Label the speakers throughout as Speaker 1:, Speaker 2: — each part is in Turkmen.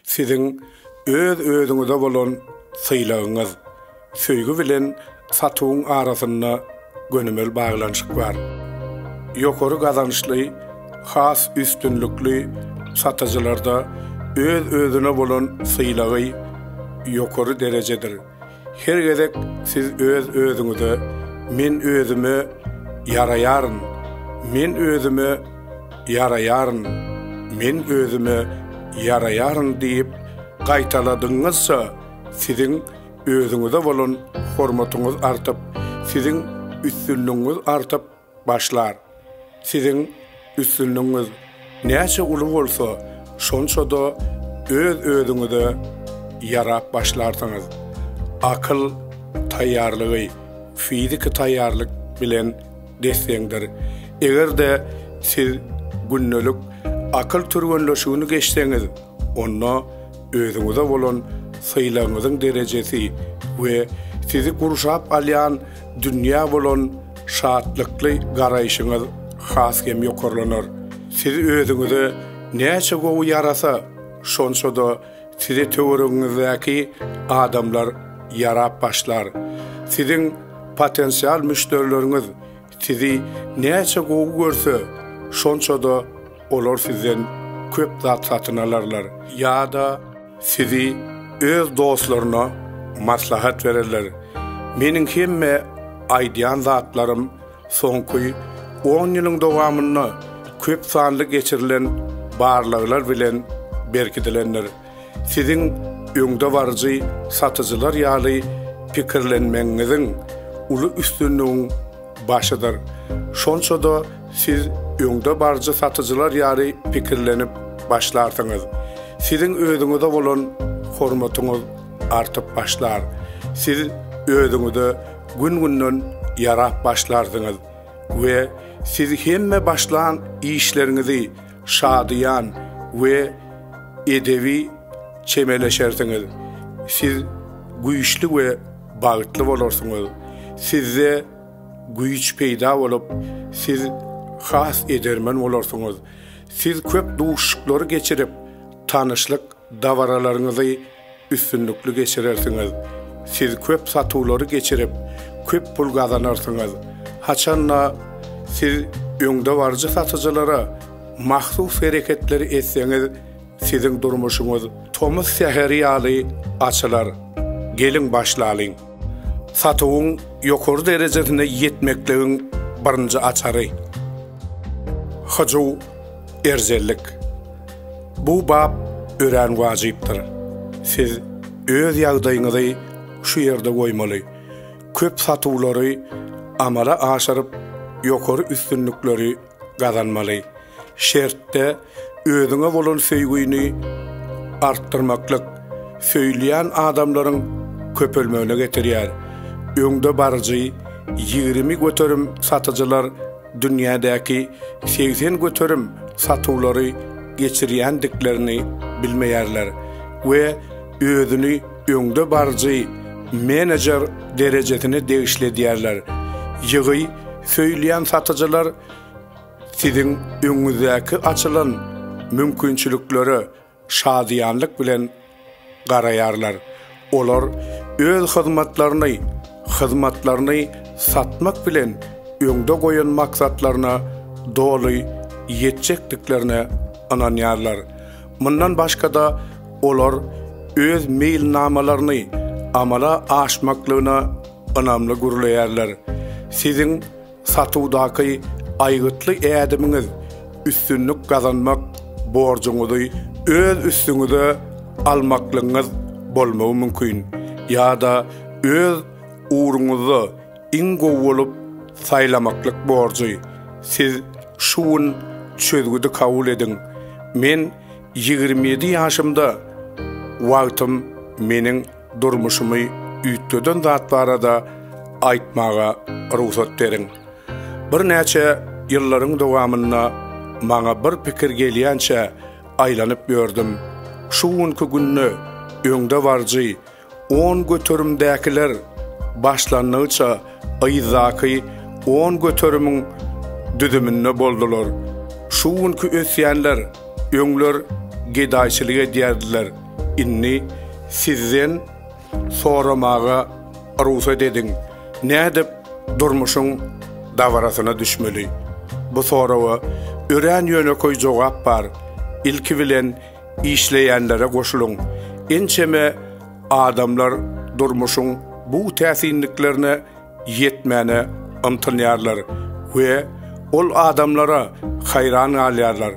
Speaker 1: Siziň öz-özüňize bolan sylagyňyz, söýgi bilen satuwyň arasynda gönümel baglanyşyk bar. Ýokary gazançly, has üstünlikli satyjylarda öz-özüne bolan sylagy ýokary derejedir. Her gezek siz öz-özüňize Men özüme ýaraýaryn, men özüme ýaraýaryn, men özüme ýaraýaryn diýip gaýtaladygyňyzça, siziň özüňize bolan hormatyňyz artyp, siziň üstünligiňiz artyp, Başlar. Siziň üstünligiňiz näçe uly bolsa, şonça-da öz-özüňize ýarap başlarsyňyz. Akyl taýýarlygy fiziki taýýarlyk bilen des-deňdir. Eger-de siz gündelik akyl türgenleşigini geçseňiz, onda özüňize bolan sylagyňyzyň derejesi we sizi gurşap alýan dünýä bolan şatlykly garaýşyňyz has hem ýokarlanar. Siz özüňize näçe gowy ýarasa, şonça-da size töweregiňizdäki adamlar ýarap başlar. Siziň potensial müşderileriňiz sizi näçe gowy görse, şonça-da olar sizden köp zat satyn alarlar. Ýa-da Sizi öz dostlaryna maslahat bererler. Meniň hemme aýdýan zatlarym soňky on ýylyň dowamynda köp sanly geçirilen barlaglar bilen berkidilendir. Siziň öňdebaryjy satyjylar ýaly pikirlenmegiňiziň uly üstünligiň Başydyr. Şonça-da siz öňde baryjy satyjylar ýaly pikirlenip başlarsyňyz. Siziň özüňize bolan hormatyňyz artyp başlar. Siz özüňize gün-günden ýarap başlarsyňyz we siz hemme başlan işleriňizi şadyýan we edebi çemeleşersiňiz, siz güýçli we bagtly bolarsyňyz, sizde güýç peýda bolup, siz has edermen bolarsyňyz, siz köp duşuşyklary geçirip, tanyşlyk dabaralaryňyzy. Üstünlikli geçirersiňiz. Siz köp satuwlary geçirip, köp pul gazanarsyňyz. Haçan-da, siz öňdebaryjy satyjylara mahsus hereketleri etseňiz, siziň durmuşyňyz tomus säheri ýaly açylar. Geliň başlalyň! Satuwyň ýokary derejesine ýetmekligiň birinji açary. Hyjuw, erjellik. Bu bap örän wajypdyr. Siz öz ýagdaýyňyzy şu ýerde goýmaly. Köp satuwlary amala aşyryp, ýokary üstünlikleri gazanmaly. şertde özüňe bolan söýgüni artdyrmaklyk söýülýän adamlaryň köpelmegine getirýär. Öňdebaryjy ýigrimi göterim satyjylar dünýädäki segsen göterim satuwlary geçirýändiklerini bilmeýärler we özüni öňdebaryjy menejer derejesine degişli edýärler. Ýygy söýülýän satyjylar Siziň öňüňizdäki açylan mümkinçiliklere şadyýanlyk bilen garaýarlar. Olar öz hyzmatlaryny, hyzmatlaryny satmak bilen öňde goýan maksatlaryna doly ýetjekdiklerine ynanýarlar. Mundan başga-da, olar öz meýilnamalaryny amala aşmaklygyna ynamly gürleýärler. Siziň Satuwdaky aýgytly ädimiňiz üstünlik gazanmak borjuňyzy öz üstüňize almaklygyňyz bolmagy mümkin ýa-da öz ugruňyzda iň gowy bolup saýlamaklyk borjy. Siz şu gün çözgüdi kabul ediň, Men ýigrimi ýedi ýaşymda wagtym meniň Durmuşymy üýtgeden zat barada aýtmaga rugsat beriň. Birnäçe ýyllaryň dowamynda maňa bir pikir gelýänçä aýlanyp ýördüm. Şu günki günde öňdebaryjy on göterimdäkiler başlangyça yzdaky on göterimiň düzüminde boldular. Şu günki ösýänler öňler gedaýçylyk edýärdiler. Indi sizden soramaga rugsat ediň, nädip durmuşyň dabarasyna düşmeli? Bu soraga örän ýönekeý jogap bar, ilki bilen işleýänlere goşulyň. Ençeme adamlar durmuşyň bu täsinliklerine ýetmäne ymtynýarlar we ol adamlara haýran galýarlar.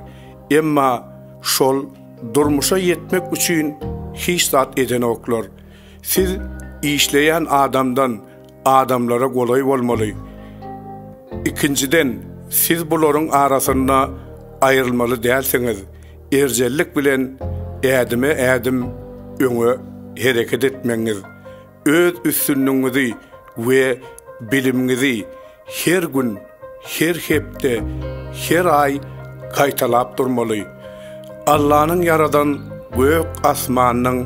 Speaker 1: Emma şol Durmuşa ýetmek üçin hiç zat edenoklar. Siz işleýän adamdan adamlara golaý bolmaly. Ikinjiden, siz bularyň arasynda aýrylmaly dälsiňiz. Erjellik bilen ädime-ädim öňe hereket etmegiňiz Öz üstünligiňizi we bilimiňizi her gün, her hepde, her aý gaýtalap durmaly. Allanyň ýaradan gök asmanynyň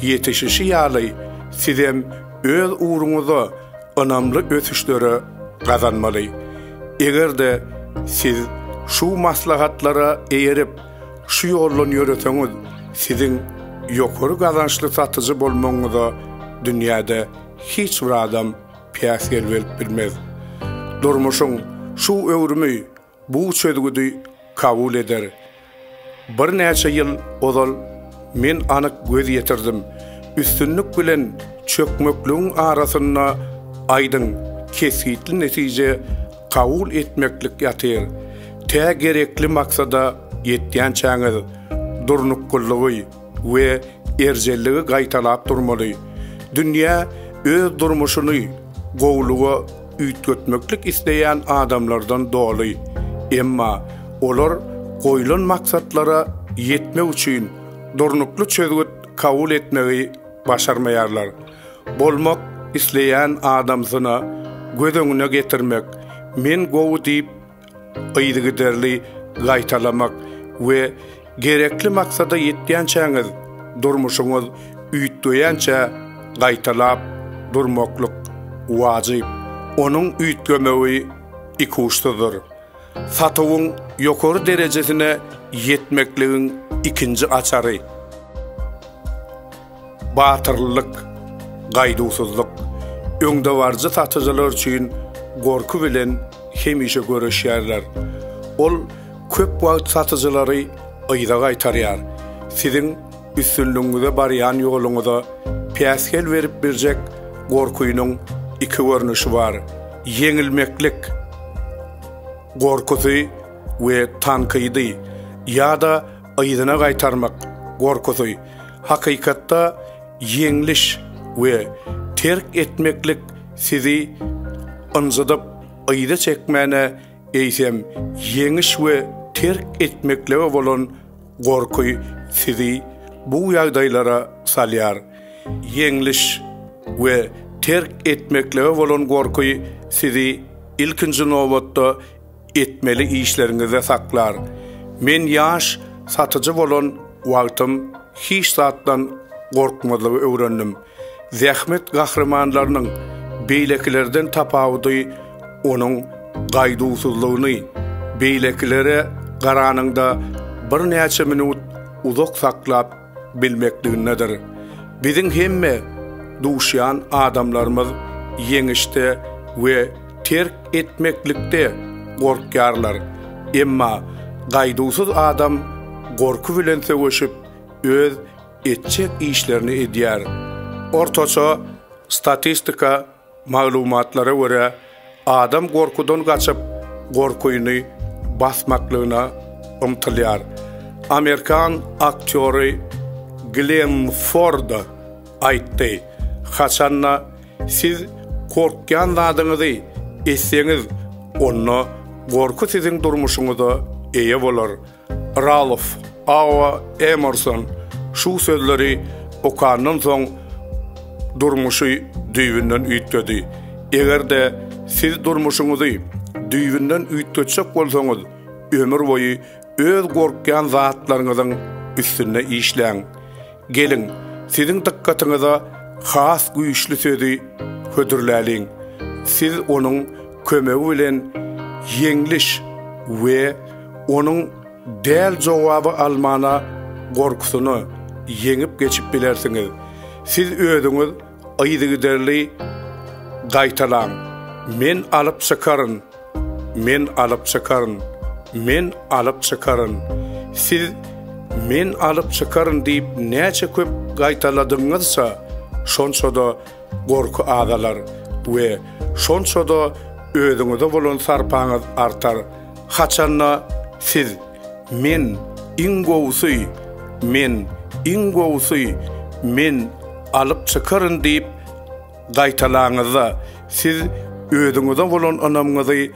Speaker 1: ýetişişi ýaly sizem öz ugruňyzda ynamly ösüşleri gazanmaly. Eger-de siz şu maslahatlara eýerip, Şu ýoldan ýöreseňiz, siziň ýokary gazançly satyjy bolmagyňyza dünýäde hiç bir adam päsgel berip bilmez. Durmuşyň şu öwrümi bu çözgüdi kabul eder. Birnäçe ýyl ozal men anyk göz ýetirdim, üstünlik bilen çökmekligiň arasynda aýdyň, kesgitli netije kabul etmeklik ýatyr. Tä gerekli maksada ýetýänçäňiz, durnukgylygy we erjelligi gaýtalap durmaly. Dünýä öz durmuşyny gowulyga üýtgetmeklik isleýän adamlardan doly. Emma olar goýlan maksatlara ýetmek üçin durnukly çözgüt kabul etmegi başarmaýarlar. Bolmak isleýän adamsyna göz öňüne getirmek, men gowy diýip, yzygiderli gaýtalamak we gerekli maksada ýetýänçäňiz durmuşyňyz üýtgeýänçä gaýtalap durmaklyk wajyp. Onuň üýtgemegi ikuçsyzdyr. Satuwyň ýokary derejesine ýetmekligiň ikinji açary. Batyrlyk, gaýduwsyzlyk, öňdebaryjy satyjylar üçin gorky bilen hemişe göreşýärler. Ol köp wagt satyjylary yza gaýtarýar, siziň üstünligiňize barýan ýoluňyza päsgel berip biljek gorkynyň iki görnüşi bar, ýeňilmeklik gorkusy we tankydy ýa-da yzyna gaýtarmak gorkusy hakykatda ýeňliş we terk etmeklik sizi ynjydyp yza çekmäne eýsem ýeňiş we terk etmeklige bolan gorky sizi bu ýagdaýlara salýar. Ýeňliş we terk etmeklige bolan gorky sizi ilkinji nobatda etmeli işleriňizde saklar. Men ýaş satyjy bolan wagtym hiç zatdan gorkmazlygy öwrendim. Zähmet gahrymanlarynyň beýlekilerden tapawudy onuň gaýduwsyzlygyny, beýlekilere garanyňda birnäçe minut uzak saklap bilmekligindedir. Biziň hemme duşýan adamlarymyz ýeňişde we terk etmeklikde gorkýarlar. Emma gaýduwsyz adam gorky bilen söweşip, öz etjek işlerini edýär. Ortaça statistika Maglumatlara görä, adam gorkudan gaçyp, gorkyny basmaklygyna ymtylýar. Amerikan aktýory Glen Ford aýtdy, Haçan-da siz gorkýan zadyňyzy etseňiz, onda gorky siziň durmuşyňyza eýe bolar. Ralof, Awa Emerson şu sözleri okandan soň durmuşy düýbünden üýtgedi. Eger-de siz durmuşyňyzy düýbünden üýtgetjek bolsaňyz, ömür boýy öz gorkýan zatlaryňyzyň üstünde işläň. Geliň, siziň dykgatyňyza has güýçli sözi hödürläliň. Siz onuň kömegi bilen ýeňliş we onuň däl jogaby almana gorkusyny ýeňip geçip bilersiňiz. Siz özüňiz Yzygiderli gaýtalaň, Men alyp çykaryn! Men alyp çykaryn! Men alyp çykaryn! Siz Men alyp çykaryn diýip näçe köp gaýtaladygyňyzça, şonça-da gorky azalar we şonça-da özüňize bolan sarpaňyz artar. Haçan-da, siz. Men, iň gowusy! Men, iň gowusy! Men alyp çykaryn diýip gaýtalaňyzda, siz özüňize bolan ynamyňyzy,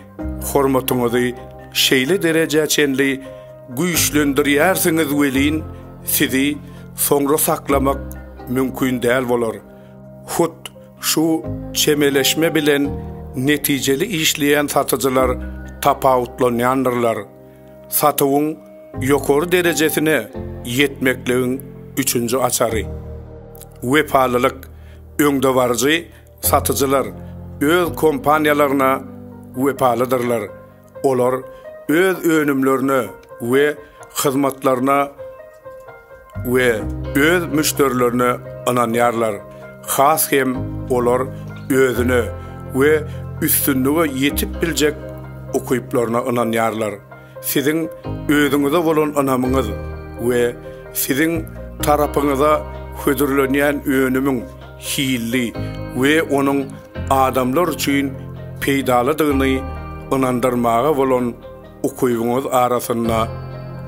Speaker 1: hormatyňyzy şeýle derejä çenli güýçlendirýärsiňiz welin, sizi soňra saklamak mümkin däl bolar. Hut şu çemeleşme bilen netijeli işleýän satyjylar tapawutlanýandyrlar. Satuwyň ýokary derejesine ýetmekligiň üçünji açary. Wepalylyk, öňdebaryjy satyjylar öz kompaniýalaryna wepalydyrlar, olar öz önümlerine we hyzmatlaryna we öz müşderilerine ynanýarlar, has hem olar özüne we üstünlige ýetip biljek ukyplaryna ynanýarlar. Siziň özüňize bolan ynamyňyz we siziň tarapyňyza hödürlenýän önümiň hilli we onuň adamlar üçin peýdalydygyny ynandyrmaga bolan Ukybyňyz arasynda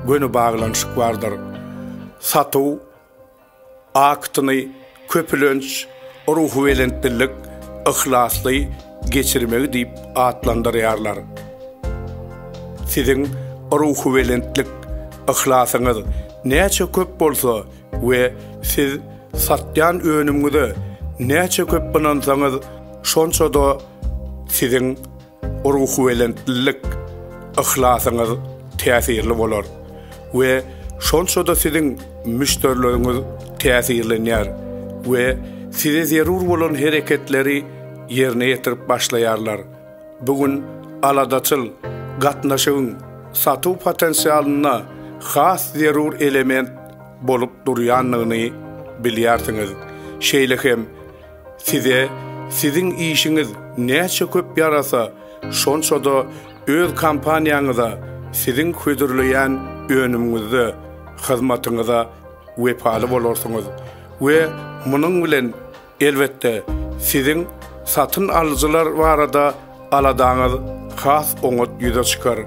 Speaker 1: göni baglanyşyk bardyr. Satuw aktyny köpülenç ruhubelentlilik, yhlasly geçirmegi diýip atlandyrýarlar. Siziň ruhubelentlik, yhlasyňyz näçe köp bolsa we siz satýan önümiňize näçe köp ynansaňyz, şonça-da siziň Ruhubelentlilik, yhlasyňyz täsirli bolar we şonça-da siziň müşderileriňiz täsirlenýär we size zerur bolan hereketleri ýerine ýetirip başlaýarlar. Bu gün aladaçyl gatnaşygyň satuw potensialynda has zerur element bolup durýandygyny bilýärsiňiz. Şeýle hem, Size siziň işiňiz näçe köp ýarasa, şonça-da öz kompaniýaňyza, siziň hödürleýän önümiňizde, hyzmatyňyza wepaly bolarsyňyz we munuň bilen, elbetde, siziň satyn alyjylar barada Aladaňyz has oňat ýüze çykar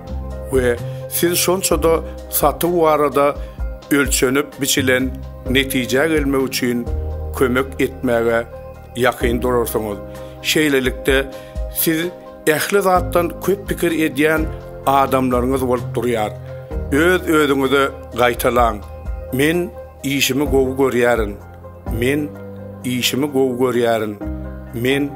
Speaker 1: we siz şonça-da satuw barada ölçenip-biçilen netijä gelmek üçin kömek etmäge ýakyn durarsyňyz. Şeýlelikde, siz ähli zatdan köp pikir edýän adamlaryňyz bolup durýar. Öz-özüňize gaýtalaň, Men işimi gowy görýärin. Men işimi gowy görýärin, men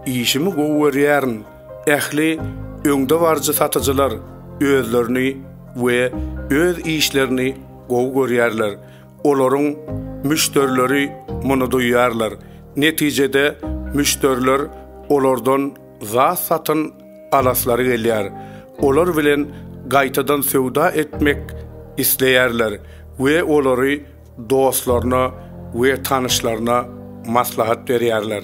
Speaker 1: işimi gowy görýärin, ähli öňdebaryjy satyjylar özlerini we öz işlerini gowy görýärler, olaryň müşderileri muny duýýarlar, netijede müşderiler olardan zat satyn alaslary gelýär, olar bilen gaýtadan söwda etmek isleýärler we olary dostlaryna we tanyşlaryna maslahat berýärler.